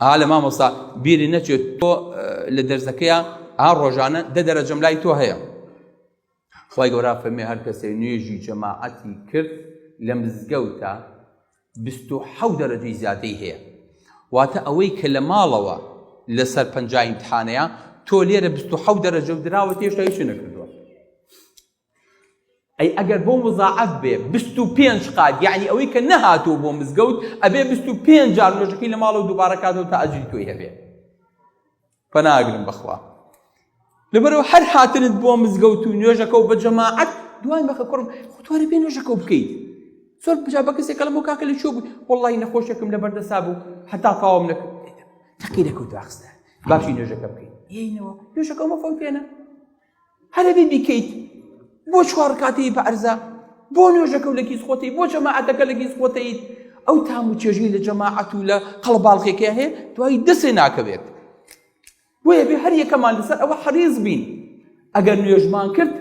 ئا لە مامۆستا بیری نەچێت تۆ لە دەرزەکەیە ئا ڕۆژانە دە دەرەجەم لای تۆ هەیە خی گەورا فەرمی هەر کەسێ نوێژی جەماعەتی کرد لە مزگەوتە حەو دەرەجەی زیادەی هەیە واتە ئەوەی کە لە ماڵەوە لەسەر پنجایم تحانەیە تۆ لێرە حەو دەرەجە و دراوە تێشتایی شو نەکردووە ئەی ئەگەر بۆ مزاعف بێ بیست و پێنج قات یعنی ئەوەی کە نەهاتوو بۆ مزگەوت ئەبێ بیست و پێنج جار نوێژەکەی لە ماڵەوە دووبارە کاتەوە تا ئەجری تۆی هەبێ پەناگرم بەخوا لەبەرەوە هەر هاتنت بۆ مزگەوت و نوێژەکە و بە جەماعەت دوای مەخە کوڕم خۆتوارە بێ نوێژەکە و بکەیت زۆر بجا بە کەسێک کەڵم و کاکە لە چۆ بوو وڵی نەخۆشێکم لە بەردەسا بوو هەتا تاوام نەکرد تەقی لەکەوت داخستە باشی نوێژەکە بکەیت یەینەوە نوێژەکە مەفەوتێنە هەرەبی بیکەیت بۆ چوار کاتی پارزە بۆ نوێژەکە و لە کیس خۆتی بۆ جەماعەتەکە لە کیس خۆتیت ئەو تام و چێژی لە جەماعەت و لە قەڵباڵخێکە هەیە دوای دەسێ ناکەوێت بۆیە بێ هەر یەکەمان لەسەر ئەوە حەریز بین ئەگەر نوێژمان کرد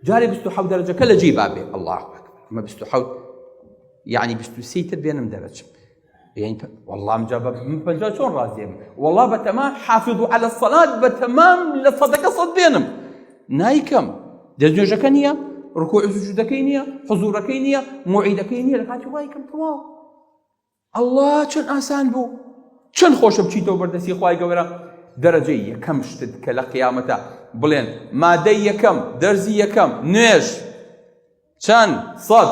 جارێ بست و حەوت دەرەجەکە لە جێی بابێ ئەڵڵاه ئەمە بست و حەوت یعنی بست و سیتر بێنم دەرەجە والله جا بە پەنجا چۆن ڕازێم والله بە تەما حافظ و على سەلات بە تەمام لە سەدەکە سەد بێنم نایکەم دەستێژەکە نییە ڕکۆ سوجودەکەی نییە حزورەکەی نییە معیدەکەی نییە لە کاتی وایکەم تەواو ئەله چەند ئاسان بوو چەند خۆشە بچیتەوە بەردەستی خی گەورە دەرەجەی یەکەم شتت کە لە قیامەتە بڵێن مادەی یەکەم دەرزی یەکەم نوێژ چەند سەد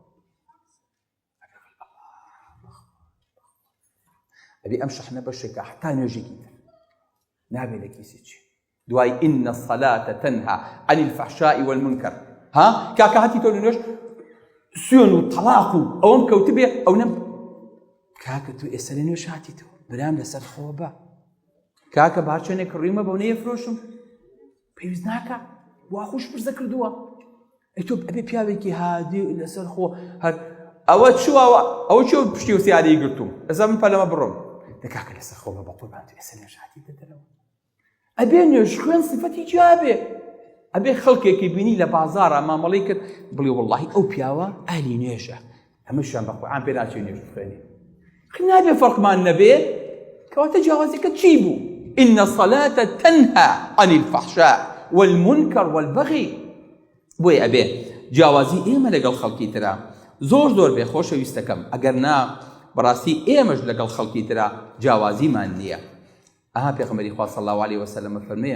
ئەبێ ئەم شەحنە بەشێکە حتا نوێژێکی تر نابێ لە کیسی چی دوای ئینە الصلاة تنها عن الفحشاء والمنكر ها کاکە هەتی تۆ نوێژ سوێن و تەڵاق و ئەوەم کەوتبێ ئەو نەم کاکە تو ئێستا لە نوێژ هاتی تۆ برام لەسەر خۆ بە کاکە بارچێنێک کڕیمە بەو نەیە فرۆشم پێویست ناکە وا خوش پرسە کردووە ئەی تۆ ئەبێ پیاوێکی هادی لەسەر خۆ هەر ئەوە چوەوە ئەو چۆ پشتی و سیاری گرتوم ئەزە من پەلەمە بڕۆم دەکاکە لەسەر خۆمە بە قوربان تو ئێستا نوێژاتی دەدەرەوە ئەبێ نوێژ خوێن سفەتی جوابێ ئەبێ خەڵکێکی بینی لە بازارە مامەڵی کرد بڵێ وڵی ئەو پیاوە ئالی نوێژە هەمووشیان بە قورعان پێ ناچێ نوێژ بخوێنێ خی نابێ فەرقمان نەبێ کەواتە جیاوازەکە چی بوو إن الصلاة تنهى عن الفحشاء والمنكر والبغي بۆی ئەبێ جیاوازی ئێمە لەگەڵ خەڵکی ترا زۆر زۆر بێ خۆشەویستەکەم ئەگەر نا بەڕاستی ئێمەش لەگەڵ خەڵکی ترا جیاوازیمان نییە ئەها پێغمەری خوا صلی الله عليه وسلم فەرمێ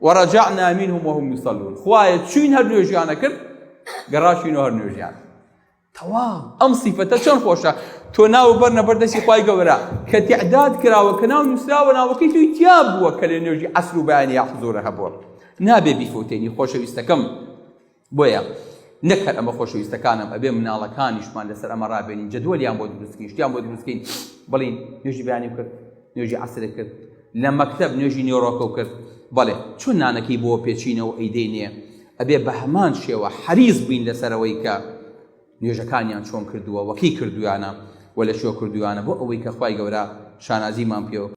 ورجعنا منهم وهم يصلون خوایە چوین هەر نوێژیانە کرد گەڕاشین و هەر نوێژیان تەواو ئەم سیفەتە چۆن خۆشە تۆ ناو بەر نەبەر دەستی خی گەورە کە تعداد کراوە کە ناو نووسراوە ناوەکەی توی تیا بووە کە لە نوێژی عسر و بەیانی یاحزۆرە هەبووە نابێ بیفوتێنی خۆشەویستەکەم بۆیە نەک هەر ئەمە خۆشەویستەکانم ئەبێ مناڵەکانیشمان لەسەر ئەمە ڕابێنین جدوەلیان بۆ دروستکەین شتیان بۆ دروستکەین بڵین نوێژی بەیانی کرد نوێژی عسرە کرد لە مەکتب نوێژی نێۆڕۆکە و کرد بەڵێ چون نانەکەی بۆ پێچینەوە ئەیدەی نیە ئەبێ بە هەمان شێوە حەریز بووین لەسەرەوەی کە نوێژەکانیان چۆن کردووە وەکی کردویانە و لە شۆ کردویانە بۆ ئەوەی کە خی گەورە شانازیمان پێوە